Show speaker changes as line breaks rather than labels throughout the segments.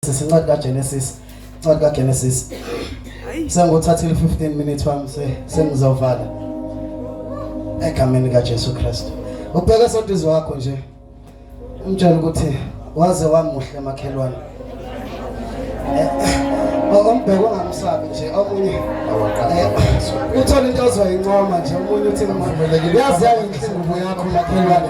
Sisincwadi kaGenesis, incwadi kaGenesis. Sengothathile 15 minutes wami sengizovala. Egameni kaJesu Kristu. Ubheke soduzi wakho nje. Umtshela ukuthi waze wamuhle makhelwane. Ombheke ongamsabi nje omunye eh, uthole into ozoyincoma nje omunye uthi ngimumelekile. Yazi yayinhle ingubo yakho makhelwane.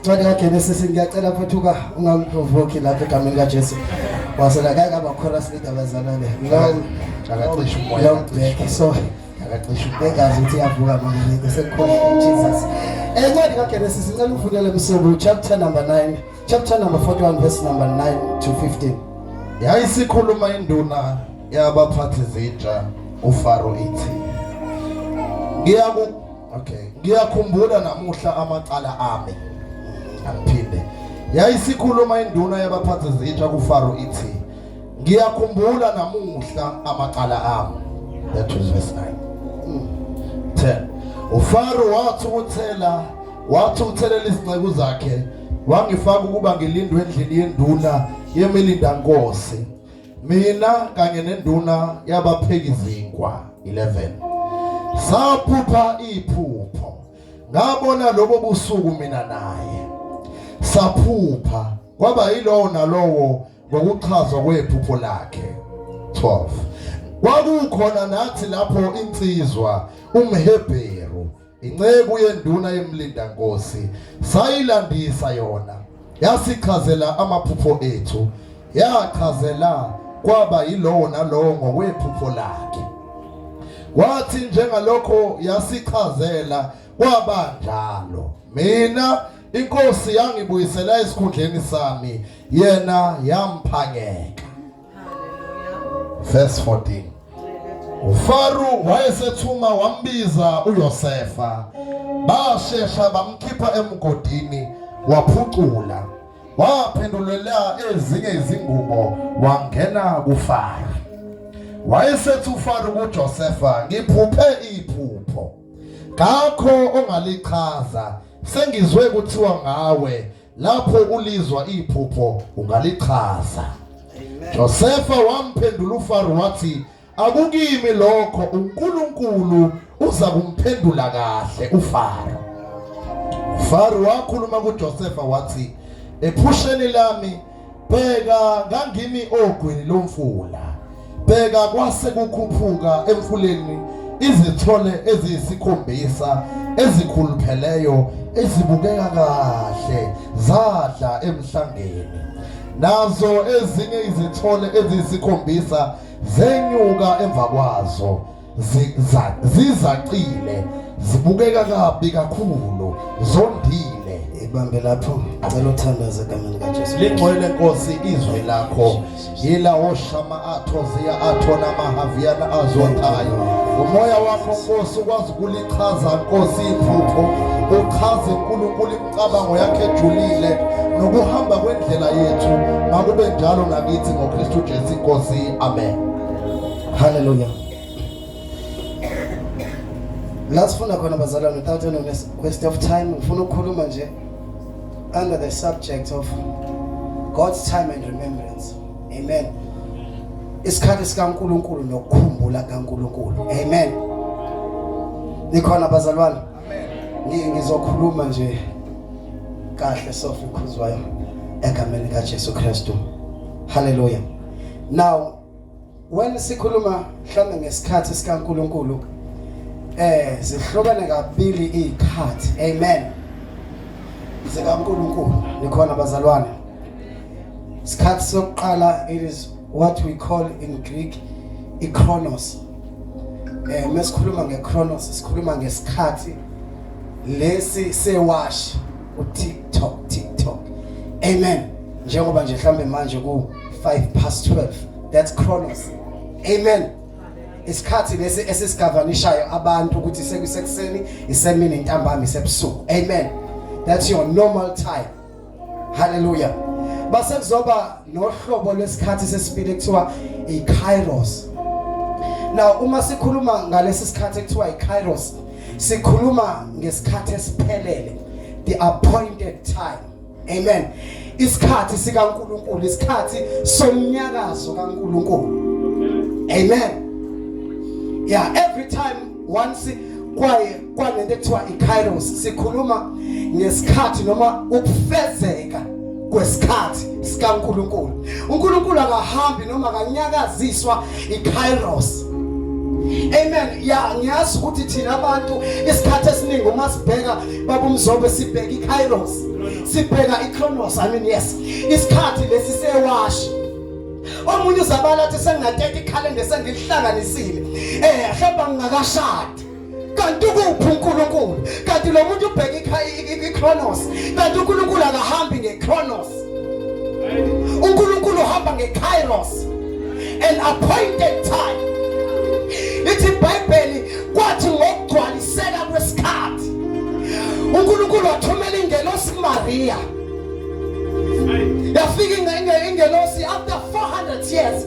Ncwadi kaGenesis ngiyacela mfethu ka ungamprovoke lapha egameni kaJesu. Wasela kake aba chorus lead abazalwane. Ngicela
akacisha umoya. Long back so
akacisha
bengazi ukuthi yavuka
manje sekhona Jesus. Encwadi kaGenesis ngicela ufundele kusuku chapter number 9 chapter number 41 verse number 9 to 15. Yayisikhuluma
induna yabaphathi zinja uFaro ithi ngiyaku Okay. Ngiyakhumbula namuhla amacala ami. Angiphinde. Yayisikhuluma induna yabaphathi zitsha kuFaro ithi ngiyakhumbula namuhla amacala ami. That was verse 9. 10. Mm. UFaro wathi uthela wathi uthelela izinceku zakhe wangifaka ukuba ngilindwe endlini yenduna yemilindankosi mina kanye nenduna yabapheki zinkwa 11 saphupha iphupho ngabona lobo busuku mina naye saphupha kwaba yilowo nalowo ngokuchazwa kwephupho lakhe 12 kwakukhona nathi lapho insizwa umhebheru Inceku yenduna yemlindankosi sayilandisa yona, yasichazela amaphupho ethu, yachazela kwaba yilowo nalowo ngokwephupho lakhe. Kwathi njengalokho yasichazela kwaba njalo. Mina inkosi yangibuyisela esikhundleni sami, yena yamphangeka. verse 14 uFaro wayesethuma wambiza uYosefa bashesha bamkhipha emgodini waphucula waphendulela ezinye izingubo wangena kuFaro wayesethi uFaro kuJosefa ngiphuphe iphupho kakho ongalichaza sengizwe kuthiwa ngawe Lapho ulizwa iphupho ungalichaza. Josefa wamphendula uFaro wathi akukimi lokho uNkulunkulu uza kumphendula kahle uFaro. Faro wakhuluma kuJosefa wathi ephusheni lami Bheka ngangimi ogwini lomfula. Bheka kwase kukhuphuka emfuleni izithole eziyisikhombisa ezikhulupheleyo ezibukeka kahle zadla emhlangeni nazo ezinye izithole eziyisikhombisa zenyuka emva kwazo zizacile zibukeka kabi kakhulu zondile
ibambe lapho cela uthandaze egameni likajesu lingcwele nkosi
izwi lakho yilawo shama atho ziya atho namahhaviyana azothayo umoya wakho nkosi ukwazi ukulichaza nkosi iphupho uchaze unkulunkulu imicabango yakhe ejulile nokuhamba kwendlela yethu makube njalo nakithi ngokristu jesu inkosi amen
Haleluya. La sifuna khona bazalwane without any waste of time ngifuna ukukhuluma nje under the subject of God's time and remembrance. Amen. Isikhathi sikaNkuluNkulu nokukhumbula kaNkuluNkulu. Amen. Nikhona bazalwane? Amen. Ngizokhuluma nje kahle sofi khuzwayo egameni kaJesu Kristu. Hallelujah. Now When sikhuluma mhlawumbe ngesikhathi sikaNkulunkulu eh zihlukene kabili izikhathi amen zikaNkulunkulu nikhona bazalwane isikhathi sokuqala it is what we call in Greek ichronos eh mesikhuluma ngechronos sikhuluma ngesikhathi lesi sewash uthi TikTok TikTok amen njengoba nje mhlambe manje ku 5 past 12 that's chronos amen isikhathi lesi esisigavanishayo abantu ukuthi sekusekuseni isemini ntambama isebusuku amen that's your normal time hallelujah base kuzoba nohlobo lwesikhathi sesibili kuthiwa ikairos now uma sikhuluma ngalesi sikhathi kuthiwa ikairos sikhuluma ngesikhathi esiphelele the appointed time amen isikhathi sikaNkuluNkulu isikhathi somnyakazo kaNkuluNkulu amen yeah every time once kwaye kwanento ekuthiwa ikairos sikhuluma ngesikhathi noma ukufezeka kwesikhathi sikaNkulunkulu. UNkulunkulu akahambi noma akanyakaziswa iKairos. Amen. Ya ngiyazi ukuthi thina abantu isikhathi esiningi uma sibheka babumzobe sibheka iKairos. Sibheka iKronos. I mean yes. Isikhathi lesi sewashi. Omunye uzabala athi sengingateka ikhalenda sengilihlanganisile. Eh, hamba ngingakashadi. kanti ukuphi uNkulunkulu kanti lo muntu ubheka iCronos kanti uNkulunkulu akahambi ngeCronos uNkulunkulu uhamba ngeKairos an appointed time ithi iBhayibheli kwathi ngokugcwaliseka kwesikhathi uNkulunkulu wathumela ingelosi kuMaria yafika ingelosi after 400 years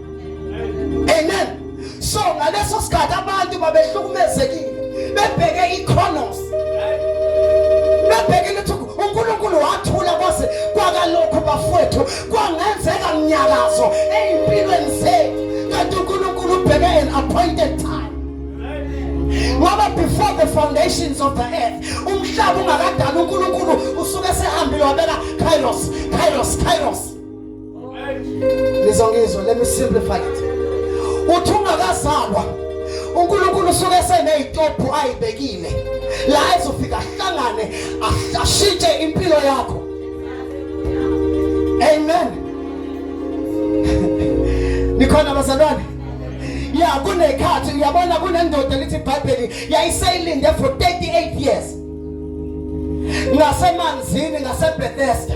amen so ngaleso sikhathi abantu babehlukumezekile bebheke iconos bebheke ukuthi uNkulunkulu wathula kwaze kwakalokhu bafowethu kwangenzeka mnyakazo ezimpilweni zethu kanti uNkulunkulu ubheke an appointed time ngoba before the foundations of the earth umhlaba ungakadala uNkulunkulu usuke sehambile wabeka kairos kairos kairos Nizongizwa, let me simplify it. Uthi ungakazalwa uNkulunkulu usuke esenezitobhu ayibekile la ezofika ahlangane ashintshe impilo yakho. Amen. Nikhona bazalwane? Ya kunekhathi uyabona kunendoda elithi iBhayibheli yayiseyilinde for 38 years. Ngasemanzini ngaseBethesda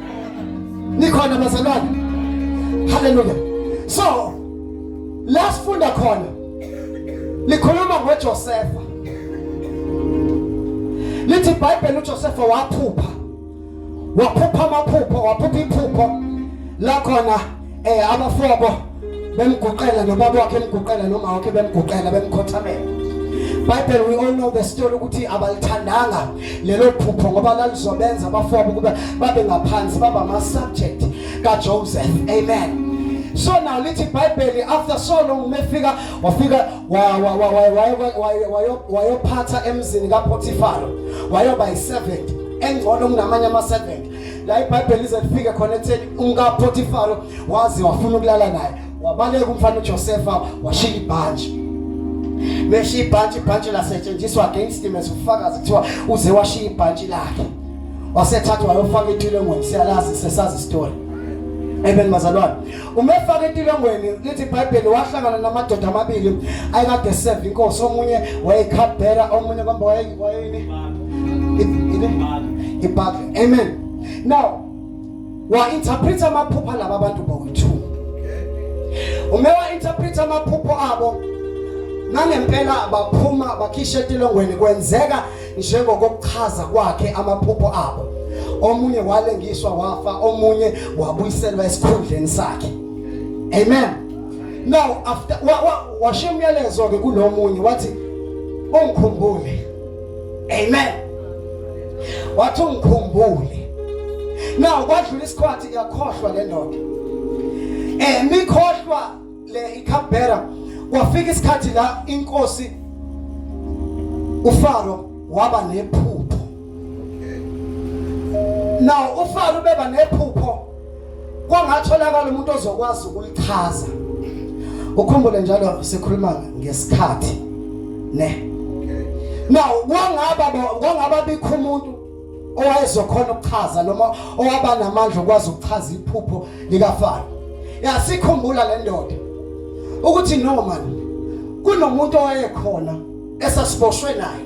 nikhona bazalwane haleluya so la sifunda khona likhuluma ngoJosefa lithi iBhayibheli uJosefa waphupha waphupha amaphupho waphupha iphupho la khona eh abafoko bemguqela nobaba wakhe emguqela noma wakhe bemguqela bemkhothamela Bible we all know the story ukuthi abalithandanga lelo phupho ngoba lalizobenza abafoko ukuba babe ngaphansi baba ama subject ka Joseph amen so now lithi bible after so long umefika wafika wayophatha emzini kaPotifaro wayoba i servant engcono kunamanye ama servant la ibhayibheli lize lifike khona ekutheni umkapotifaro waze wafuna ukulala naye wabaleka umfana ujosefa washiya ibhanji meshiya ibhanji ibhanji lasetshenziswa against him as ufakazi kuthiwa uze washiya ibhanji lakhe wasethathwa wayofaka ethulengweni siyalazi sesazi story amen bazalwane umefaka etilongweni lithi ibhayibheli wahlangana namadoda amabili ayekade eseva inkosi omunye wayekhabhela omunye kwamba wayeyini ibhakle amen now wa-interpreta amaphupha laba abantu bowu-two ume wa-interpreta amaphupho abo nangempela baphuma bakhishela etilongweni kwenzeka njengokokuchaza kwakhe amaphupho abo omunye walengiswa wafa omunye wabuyiselwa esikhundleni sakhe amen now after washiya umyalezo ke kulomunye wathi ungikhumbule amen wathi ungikhumbule now kwadlula isikhathi yakhohlwa le ndoda eh mikhohlwa le iCabera kwafika isikhathi la inkosi uFaro waba nephupho now uFaro ubeba nephupho kwangatholakala umuntu ozokwazi ukulichaza ukhumbule njalo sikhuluma ngesikhathi ne now kwangaba kwangaba bikho umuntu owayezokhona ukuchaza noma owaba namandla okwazi ukuchaza iphupho likafaro yasikhumbula le ndoda ukuthi no man kunomuntu owayekhona esasiboshwe naye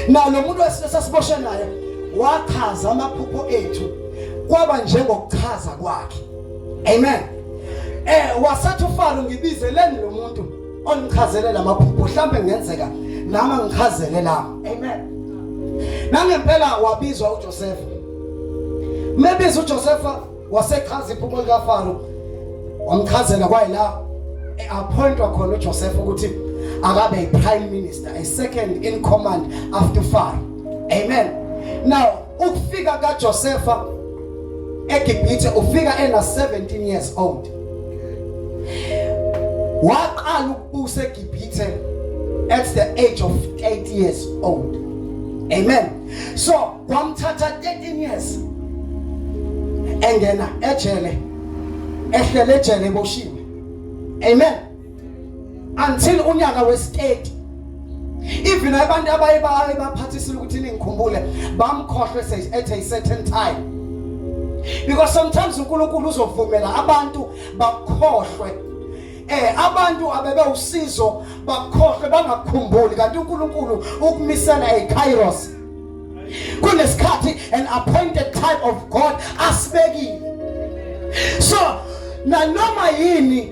na lo muntu esasiboshwe naye wachaza amaphupho ethu kwaba njengokuchaza kwakhe amen eh wasathi ufalo ngibizeleni lo muntu ongichazele lamaphupho mhlambe ngenzeka nami angichazele la amen nangempela wabizwa uJoseph mebiza uJoseph wasechaza iphupho likaFaro wamchazela kwayila eappointwa khona uJoseph ukuthi akabe iprime minister a second in command after Pharaoh amen now Ukufika kaJosefa eGibhithe ufika ena 17 years old. Waqala ukubusa eGibhithe at the age of 8 years old. Amen. So kwamthatha 13 years engena ejele ehlele ejele eboshiwe. Amen. until unyaka westate even abantu abaye baye baphathisile ukuthi ningikhumbule bamkhohlwe says at a certain time because sometimes uNkulunkulu uzovumela abantu bakhohlwe eh abantu abebe usizo bakhohlwe bangakukhumbuli kanti uNkulunkulu ukumisela eKairos kunesikhathi an appointed time of God asibekile so nanoma yini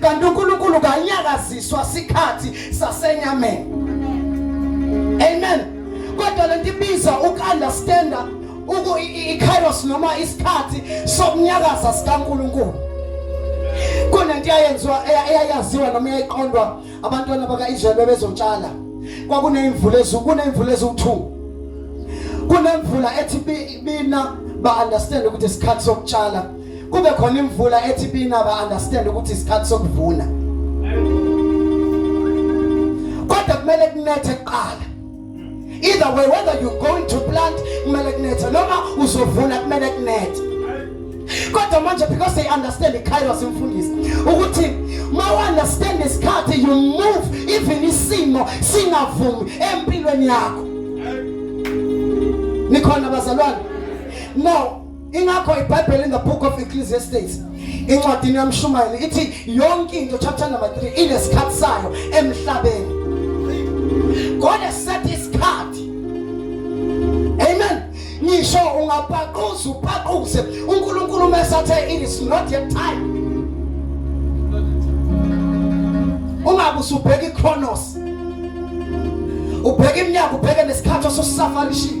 kanti uNkulunkulu kanyakaziswa sikhathi sasenyameni amen kodwa lento ibiza ukunderstanda uku ikairos noma isikhathi sokunyakaza sikaNkulunkulu kunento eyayenziwa eyayaziwa noma eyayiqondwa abantwana bakaIsrael bebezotshala kwakunemvula ezulu kunemvula eziwu2 kunemvula ethi bina ba understand ukuthi isikhathi sokutshala kube khona imvula ethi bina ba understand ukuthi isikhathi sokuvuna kodwa kumele kunethe kuqala either way whether you going to plant kumele kunethe noma uzovuna kumele kunethe kodwa manje because they understand ikairos imfundisi ukuthi ma understand isikhathi you move even isimo singavumi empilweni yakho nikhona bazalwane now ingakho ibhayibheli in the book of ecclesiastes incwadini yamshumayeli ithi yonke into chapter number 3 inesikhathi sayo emhlabeni god has set isikhathi amen ngisho ungapaquza upaquze unkulunkulu mesathe it is not yet time ungabe usubheka ichronos ubheka iminyaka ubheke nesikhathi osusafanishile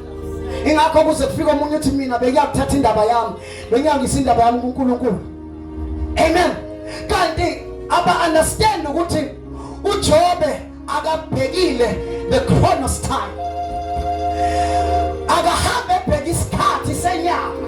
ingakho kuze kufika omunye uthi mina bengiyakuthatha indaba yami bengiyangisa indaba yami kuNkulunkulu amen kanti aba understand ukuthi uJobe akabhekile the chronos time akahambe ebheka isikhathi senyama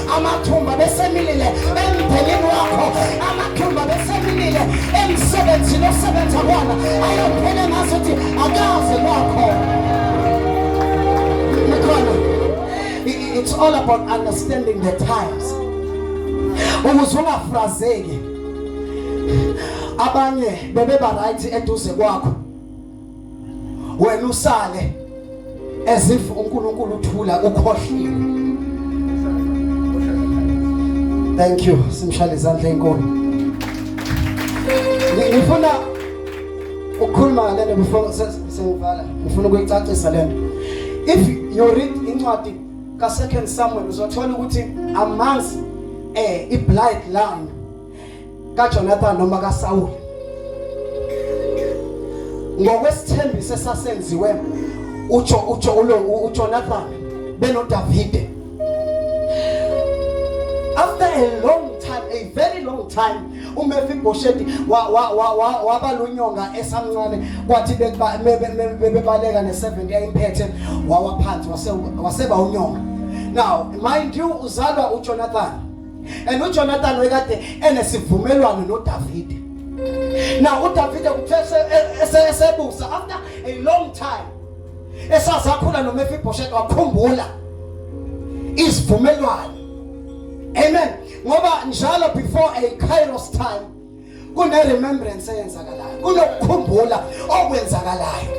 amathumba besemilile emndenini wakho amathumba besemilile emsebenzini osebenza kona ayophele ngaso ukuthi akaze kwakho nikhona it's all about understanding the times ukuze ungafrazeki abanye bebeba right eduze kwakho wena usale as if uNkulunkulu uthula ukhohliwe thank you simshale izandla enkulu ngifuna ukukhuluma ngalento before sengivala ngifuna ukuyicacisa lento if you read incwadi ka second Samuel uzothola ukuthi amanzi eh i bloodline kaJonathan noma kaSawule ngokwesithembiso esasenziwe ujo ujo ulo uJonathan benoDavide after a long time a very long time uMefiboshethi waba lunyonga esamncane kwathi bebaleka ne70 yayimphethe wawaphansi waseba unyonga now mind you uzalwa uJonathan and uJonathan wekade enesivumelwano noDavide now uDavide kuthe esebusa after a long time esazakhula noMefiboshethi wakhumbula isivumelwano amen ngoba njalo before a kairos time kune remembrance eyenzakalayo kunokukhumbula okwenzakalayo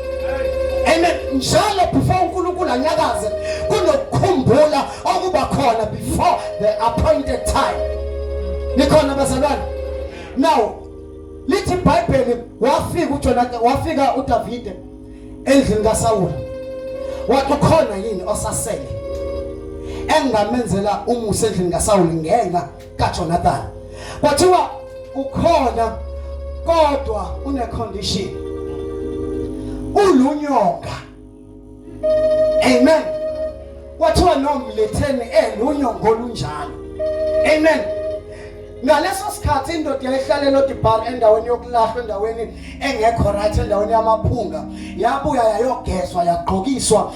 amen njalo before uNkulunkulu anyakaze kunokukhumbula okuba khona before the appointed time nikhona bazalwane now lithi iBhayibheli wafika uJonathan wafika uDavide endlini kaSawula wathi khona yini osasele engamenzela umusa endlini kaSawula ngenxa kaJonathan kwathiwa ukhona kodwa une condition ulunyonga amen kwathiwa nomletheni elunyongo olunjalo amen ngaleso sikhathi indoda yayihlalela odibhar endaweni yokulahla endaweni engekho right endaweni yamaphunga yabuya yayogezwa yagqokiswa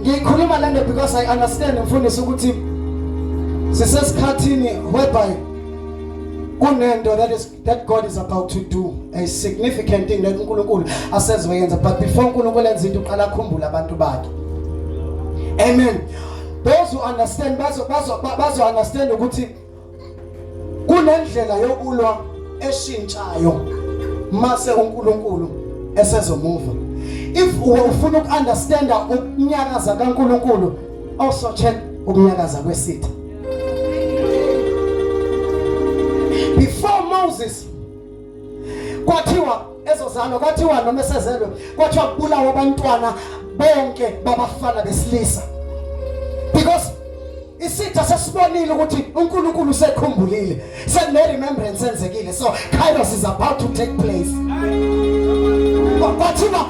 Ngikhuluma lento because I understand mfundisi ukuthi sisesikhathini whereby kunento that is that God is about to do a significant thing that uNkulunkulu asezoyenza but before uNkulunkulu enza into uqala akhumbule abantu bakhe amen those who understand bazo bazo bazo understand ukuthi kunendlela yokulwa eshintshayo mase uNkulunkulu esezomuva if ufuna ukunderstanda ukunyakaza kaNkulunkulu also check ukunyakaza kwesitha before Moses kwathiwa ezozalwa kwathiwa noma esezelwe kwathiwa kubulawa abantwana bonke babafana besilisa because isitha sesibonile ukuthi uNkulunkulu usekhumbulile sekune remembrance enzekile so kairos is about to take place kwathiwa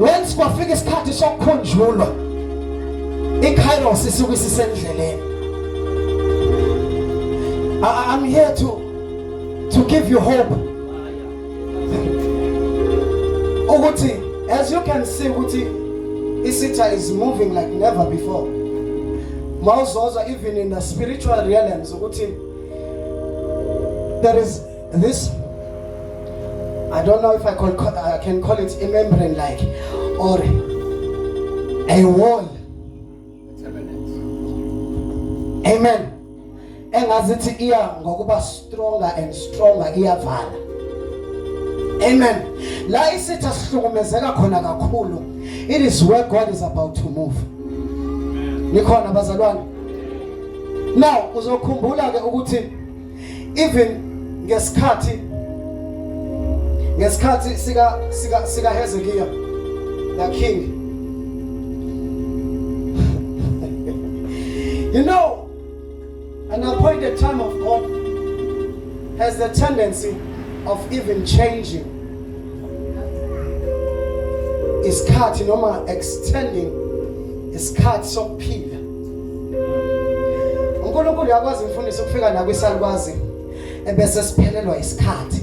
once kwafika isikhathi sokukhunjulwa ikairos isuke isisendleleni i'm here to to give you hope ukuthi as you can see ukuthi isitha is moving like never before mawuzozwa even in the spiritual realms ukuthi there is This I don't know if I, call, I can call it a membrane like or a wall. Amen. Engazithi iya ngokuba stronger and stronger iyavala. Amen. La isitha sihlukumezeka khona kakhulu. It is where God is about to move. Nikhona bazalwane. Now uzokhumbula ke ukuthi even ngesikhathi ngesikhathi sika sika sika Hezekiah la king you know an appointed time of God has the tendency of even changing isikhathi noma extending isikhathi sokuphila uNkulunkulu yakwazi umfundisi ukufika la kwisalukwazi ebese siphelelwa isikhathi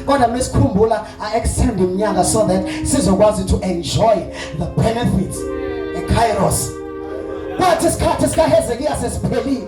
kodwa mesikhumbula a extend iminyaka so that sizokwazi to enjoy the benefits e Kairos kwathi isikhathi sikaHezekiya sesiphelile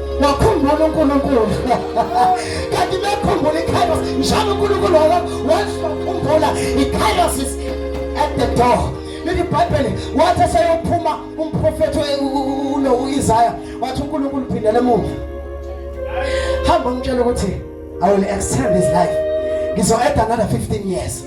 wakhumbula uNkulunkulu kanti bekhumbula ikairos njalo uNkulunkulu wala wazokhumbula ikairos is at the door lithi ibhayibheli wathi eseyophuma umprofethi ulo u-isaya wathi unkulunkulu phindele emuva hamba umtshela ukuthi i will extend his life ngizo-add another 15 years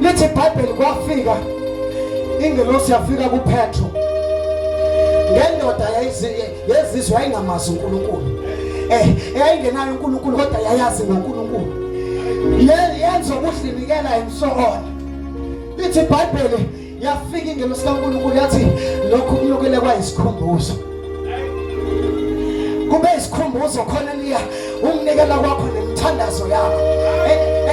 lithi ibhayibheli kwafika ingelosi yafika kuphetro ngendoda yezizwe yayingamazi unkulunkulu eh eyayingenayo unkulunkulu kodwa yayazi ngonkulunkulu yenza ukuzinikela and so on lithi ibhayibheli yafika ingelo sikaNkulunkulu yathi lokhu kunyukele kwayisikhumbuzo kube isikhumbuzo khona liya umnikela kwakho nemithandazo yakho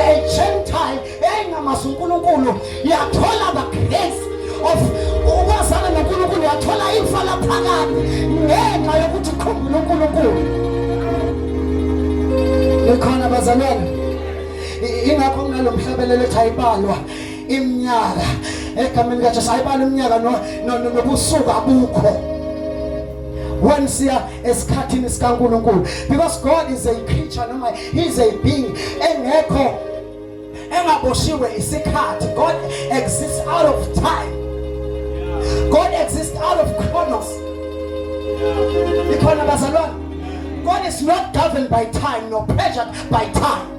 egentile eyayingamazi unkulunkulu yathola the grace of ukwazana nonkulunkulu yathola ifa laphakade ngenxa yokuthi khumbula unkulunkulu likhona bazalwane ingakho kunalo mhlabelelo ethi ayibalwa iminyaka egameni kaJesu ayibali iminyaka nobusuku abukho when siya esikhathini sikaNkulunkulu because God is a creature noma he is a being engekho engaboshiwe isikhathi God exists out of time God exists out of chronos ikhona bazalwane God is not governed by time nor pressured by time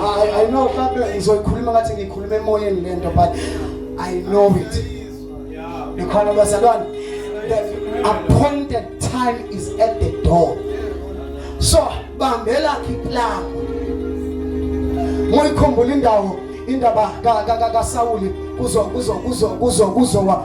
I, I know mhlampe ngizoyikhuluma ngathi ngikhuluma emoyeni lento but I know it. Nikhona bazalwane the appointed time is at the door. So bambela iplan. Moyikhumbula indawo indaba ka ka ka Sawuli kuzo kuzo kuzo kuzo kuzo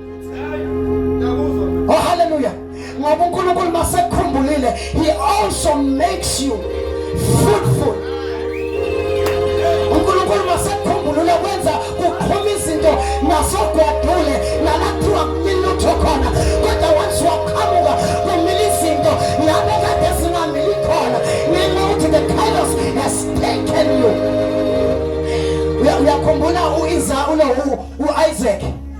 Oh hallelujah. Ngoba uNkulunkulu masekukhumbulile he also makes you fruitful. uNkulunkulu masekukhumbulile kwenza kuqhuma izinto nasogwadule nalakuthiwa kumilutho khona kodwa once waqhamuka kumile izinto ngabe kade zingamili khona ngenxa ukuthi the chaos has taken you uyakhumbula uIsa uno uIsaac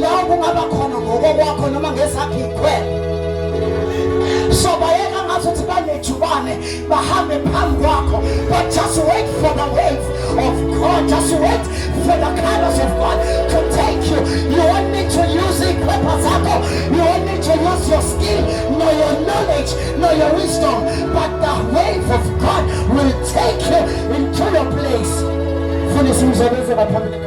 Lawo kungaba khona ngokokwakho noma ngezakho ikhwela. So bayeka ngathi uthi banejubane bahambe phambi kwakho but just wait for the wave of God. Just wait for the kindness of God to take you. You won't need to use ikhwepha zakho. You won't need to use your skill nor your knowledge nor your wisdom but the wave of God will take you into your place. Funa isimzobeze baphambili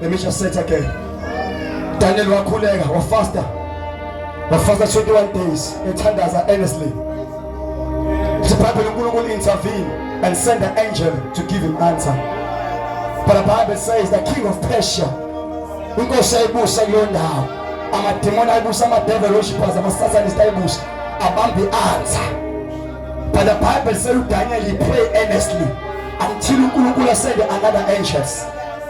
Let me just say it again. Daniel wakhuleka wafasta wafasta 21 days ethandaza earnestly. The Bible uNkulunkulu intervene and send an angel to give him answer. But the Bible says the king of Persia inkosi ayibusa kuyo ndawo amademoni ayibusa amadevil worshippers amasatanist ayibusa abambe answer. But the Bible says Daniel he pray earnestly until uNkulunkulu send another angels.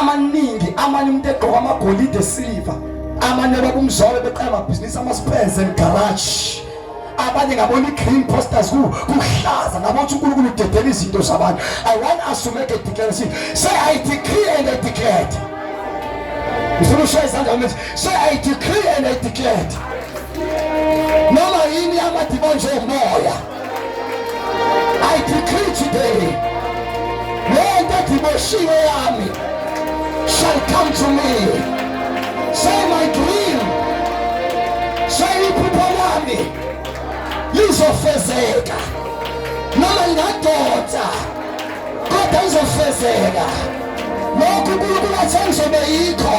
amaningi amanye umuntu egqoka amagolide esiliva amanye abakumzwalo beqala amabhizinisi ama-spurs and garage abanye ngabona i-green posters kuhlaza ngabothi unkulunkulu udedela izinto zabantu i want us to make a declaration say i decree and i declared ngifuna ushaye izandla mthi say i decree and i declared noma yini yamadimoni njengomoya I decree today, lento ediboshiwe yami shall come to me. Say my dream, say iphupho lami lizofezeka, noma ngingadoda kodwa lizofezeka. Lokhu kulukulathe ngizobe yikho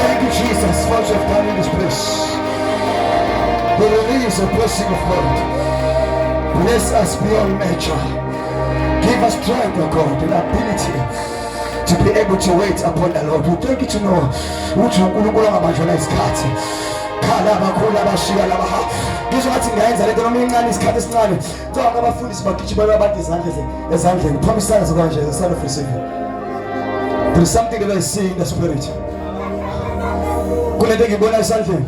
Thank you, Jesus, for what you have done in this place. The release of blessing of God. Bless us beyond measure. Give us strength, O God, and ability to be able to wait upon the Lord. We thank you to know ukuthi uNkulunkulu angabanjwela isikhathi. Khala abakhulu abashiya labaha. Ngizwa ngathi ngiyayenza lento noma incane isikhathi esincane. Kuthiwa abafundisi bagijimela abantu izandla ezandleni phambi isandla zikwanje as a sign of receiving. There is something that I see in the spirit. Kunento engibona esandleni.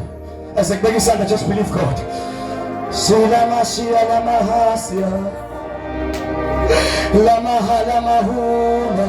As I beg isandla just believe God. Silama shiyala mahasya. Lama halama hula.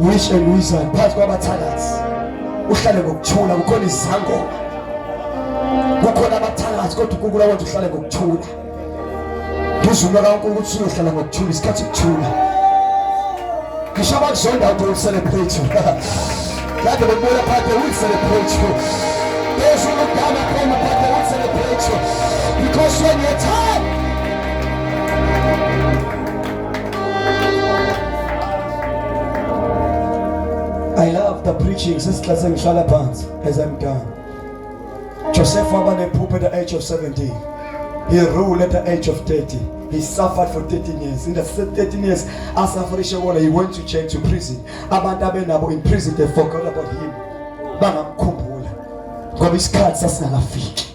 Uyisho engiyizwayo phakathi kwabathakathi. Uhlale ngokuthula kukhona izangoma. Kukhona abathakathi kodwa uNkulunkulu akwenza uhlale ngokuthula. Ngizuma kaNkulunkulu ukuthi uyohlala ngokuthula isikhathi kuthula. Ngisho abakuzonda ukuthi ucelebrate. Kade bebona phakathi ukuthi celebrate. There's no time at home about the one celebration because when you're tired I love the preaching sesixhase ngihlala phansi as I'm done. Joseph waba nephupho at the age of 17. He ruled at the age of 30. He suffered for 13 years. In the 13 years, as Afarisha Wala, he went to church to prison. Abantu abenabo in prison, they forgot about him. Bangamkhumbula. Ngoba isikhathi sasingakafiki.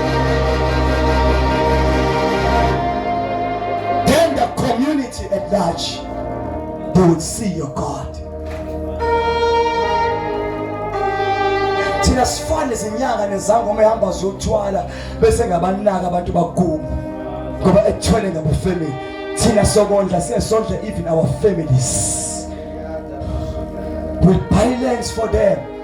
Then the community at large they would see your God. Thina sifane izinyanga nezangoma ehamba zothwala bese ngabanaka abantu bakubo ngoba ethwele ngabufemini thina sokondla siyesondla even our families we buy lands for them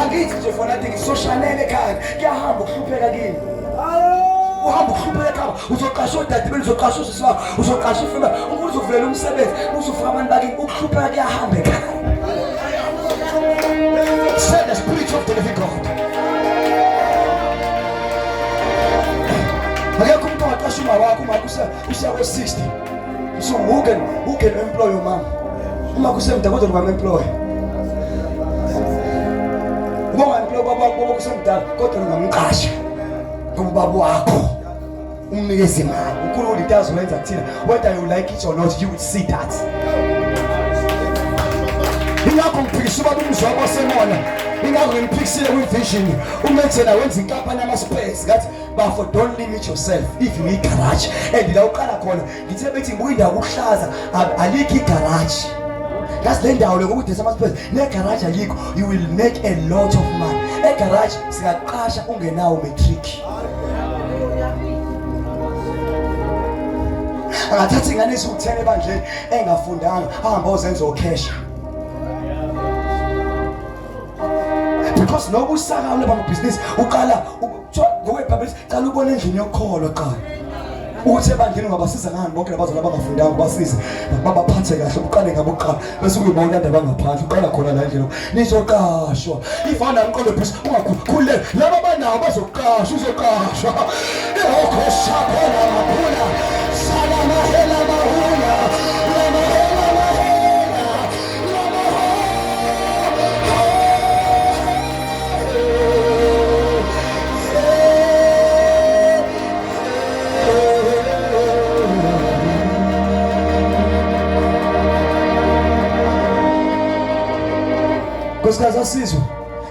Angithi nje fanatic soshanele ekhaya kuyahamba ukuhlupheka kini. Uhamba ukuhlupheka ekhaya uzoqasha odadebeni uzoqasha usisi wakho uzoqasha ifuna umuntu uzovulela umsebenzi uzofuka abantu bakini ukuhlupheka kuyahamba ekhaya. Send the spirit of the living God. Akekho umuntu ongaqasha umawakho uma usa usa ko 60. So who can who can employ your mom? Uma kusemda kodwa ngam employ. Uma ungamploy baba baba kusemdala kodwa ngamqasha. Ngoba baba wakho umnikeze imali. Ukhulu into azoyenza kuthina. Whether you like it or not, you will see that. Ingakho ngiphikisa ubaba umzwakho semona. Ingakho ngimphikisile kwi-vision. Umethela wenza inkampani yama-space ngathi bafo don't limit yourself if you need garage and la uqala khona ngithe bethi ngibuka indawo kuhlaza alikho igarage ngazi le ndawo lokho kudesa amasipesi negaraji ayikho you will make a lot of money egaraji singaqasha ungenawo matric angathatha ingane esiwuthene ebandleni engafundanga ahamba ozenza okhesha because nokusakala bamabhizinisi uqala Kuthiwa nguwe Bhabhesi, cala ubone endlini yokholo qala. Ukuthi ebandleni ungabasiza ngani bonke labazali abangafundanga ubasize babaphathe kahle uqale ngabo kuqala bese kuyibona indaba ngaphandle uqala khona la endlini nizoqashwa ifana umqondo phisa ungakhulule laba banawo bazoqashwa uzoqashwa ehokho shaphela maphula sala mahela mahula nkosikazi asizwe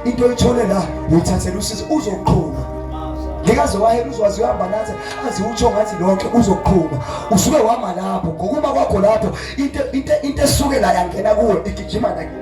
into oyithole la uyithathela usizo uzoqhuma ngekaze wahela uzwazi uhamba nathi azi utsho ngathi lonke uzoqhuma usuke wama lapho ngokuba kwakho lapho into esuke la yangena kuwe igijima nakini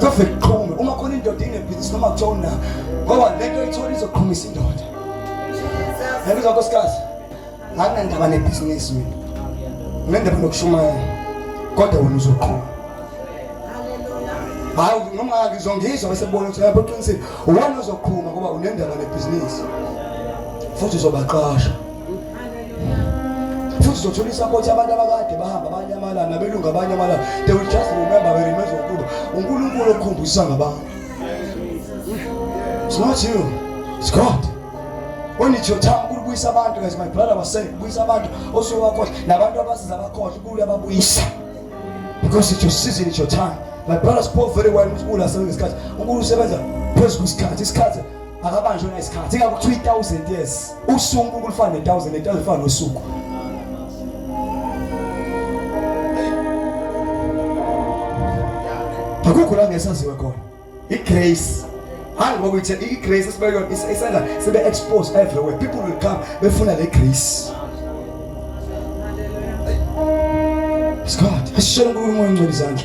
Sofike kuqhume uma khona indoda inebhizinisi noma kuthiwa una ngoba le nto ithola izoqhumisa indoda. Yabizwa nkosikazi. Anginandaba nebhizinisi mina. Nginendaba nokushumayela. Kodwa wena uzoqhuma. Hayi noma ngizongizwa bese bona ukuthi yabo qinisile. Uwona ozoqhuma ngoba unendaba nebhizinisi. Futhi uzobaqasha. futhi uzothola isapoti abantu abakade bahamba abanye amalanga nabelungu abanye amalanga they will just remember we remember ukuba unkulunkulu okukhombisa ngabantu it's not you it's god when it's your time ukubuyisa abantu as my brother was saying buyisa abantu osuyowakhohlwa nabantu abasiza abakhohlwa ukule ababuyisa because it's your season it's your time my brother spoke very well unkulunkulu asebenza isikhathi unkulunkulu usebenza phezu kwesikhathi isikhathi akabanjwe ngesikhathi ingabe kuthiwa i-thousand years usuku kulufana ne-thousand ne-thousand ifana nosuku akukho la ngesaziwe khona i-grace hayi ngoba ithe i-grace esibeyona isenza sibe-expose everywhere people will come befuna le grace Scott, asishela uNkulunkulu ongcwele izandla.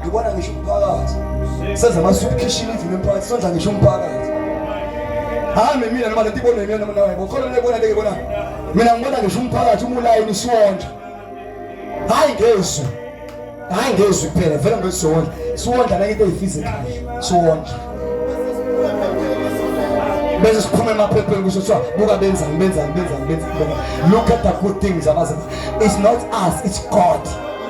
ngibona ngisho umphakathi senza amasuphishini endlini emphakathi senza ngisho umphakathi hambe mina noma lento ibonwe mina noma nawe ukhona lebona leke bona mina ngibona ngisho umphakathi umulayini isiwondla hayi ngezwi hayi ngezwi kuphela vele ngesiwondla siwondla nake into eyifizikhali siwondla bese siphuma emaphepheni kusho kuthiwa buka benzani benzani benzani benzani look at the good things abazenza it's not us it's god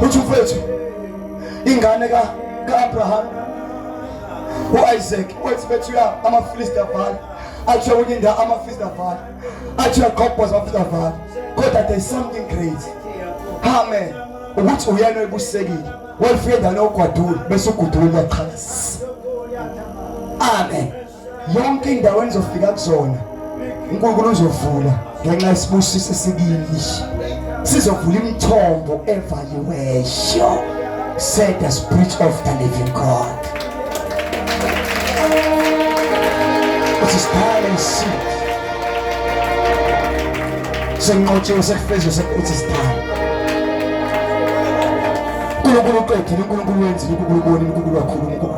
uthi mfethu ingane ka ka-abraham u-isaac wethi bethu ya amafilisti avale athi uyakuthi indawo amafilisti avale athi uyagobhoza amafilisti avale kodwa there is something great amen ukuthi uyena oyibusekile walifika endaweni yokugwadula bese ugudula uyaqhalisa amen yonke indawo enizofika kuzona uNkulunkulu uzovula ngenxa yesibusiso esibili sizovula imithombo evaliweyo said the spirit of the living God usisithale isitha senqotshiwe sekufezwe sekuthi sithale uNkulunkulu uqedile uNkulunkulu wenzile uNkulunkulu ubonile uNkulunkulu wakhuluma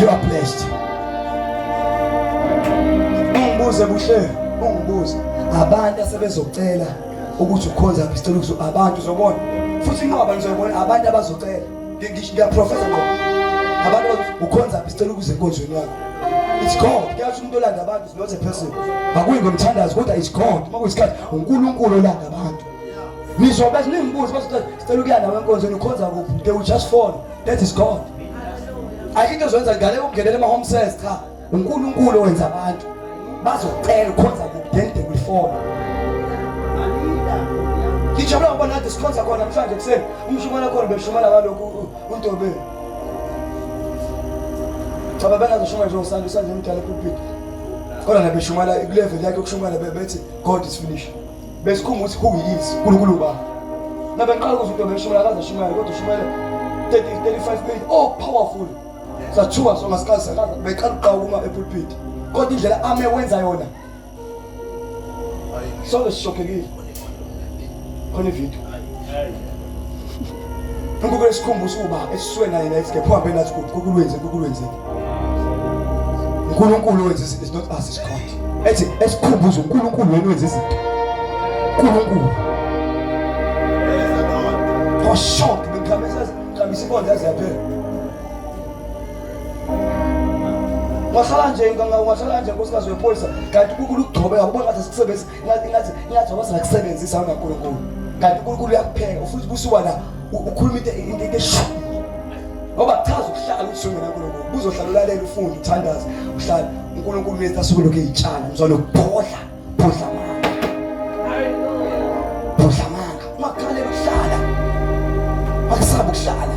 You are blessed. Ungibuze kuhle, ungibuze. Abantu asebezocela ukuthi ukhonza ngicela ukuthi abantu uzobona. Futhi inqoba ngizobona abantu abazocela. Ngisho ngiyaprofesa ngoba. Abantu ukhonza ngicela ukuze enkonzweni yakho. It's God. Kuyathi umuntu olanda abantu is not a person. Akuyi ngomthandazo kodwa it's God. Uma kuyisikhathi uNkulunkulu olanda abantu. ngisho bese ningibuze bese sicela ukuya nawe enkonzweni ukhonza kuphi they will just fall that is god ayikho into ozoyenza ngale ukungenela ama-home sales cha unkulunkulu owenza abantu bazocela ukhonza kuphi then they will fall ngijabula ngoba nathi sikhonza khona mhlawumbe ekuseni umshumana khona beshumana kalokhu untobeni cha babengazoshuma nje usanda usanda emdala epulpiti kodwa nabeshumana kuleveli yakhe yokushumana bethi god is finished besikhumba ukuthi who he is uNkulunkulu uba nabaqala ukuthi uDobela uShumela akaze ashumayele kodwa uShumela 30 35 minutes oh powerful sathuka so ngasikazi sakaza beqala uqawuma epulpit kodwa indlela ame wenza yona sonke sishokekile khona ivideo uNkulunkulu esikhumbuza uba esiswe naye la esigepho hambe nathi kukulwenze kukulwenzeni uNkulunkulu wenza izinto is not us is God ethi esikhumbuza uNkulunkulu wena wenza izinto uNkulunkulu for shock bengikhambisa khambisa inkonzo yaze yaphela ungahlala nje ungahlala nje nkosikazi wepholisa kanti kukulu ukugcobeka uba ngathi sikusebenzisa ngathi ngathi ngathi wabaza kusebenzisa wena uNkulunkulu kanti uNkulunkulu uyakupheka ufuthi busuka la ukhuluma into into into eshu ngoba kuchaza ukuhlala ukuthi wena uNkulunkulu buzohlala ulalela ufunde uthandaze uhlala uNkulunkulu wethu asuke lokhu izitshana mzwana ukuphodla phodla manga phodla manga makhalela ukuhlala akusabe ukuhlala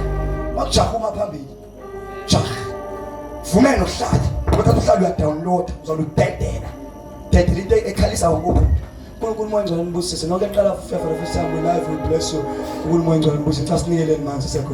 makujaha uma phambili vumela uhlale bathatha uhlale uyadownloada uzona udedela dedela into ekhalisa ukuba uNkulunkulu moya ngcwele nibusise nonke eqala for the first time we live we bless you uNkulunkulu moya ngcwele nibusise xa sinikeleni manzi sekho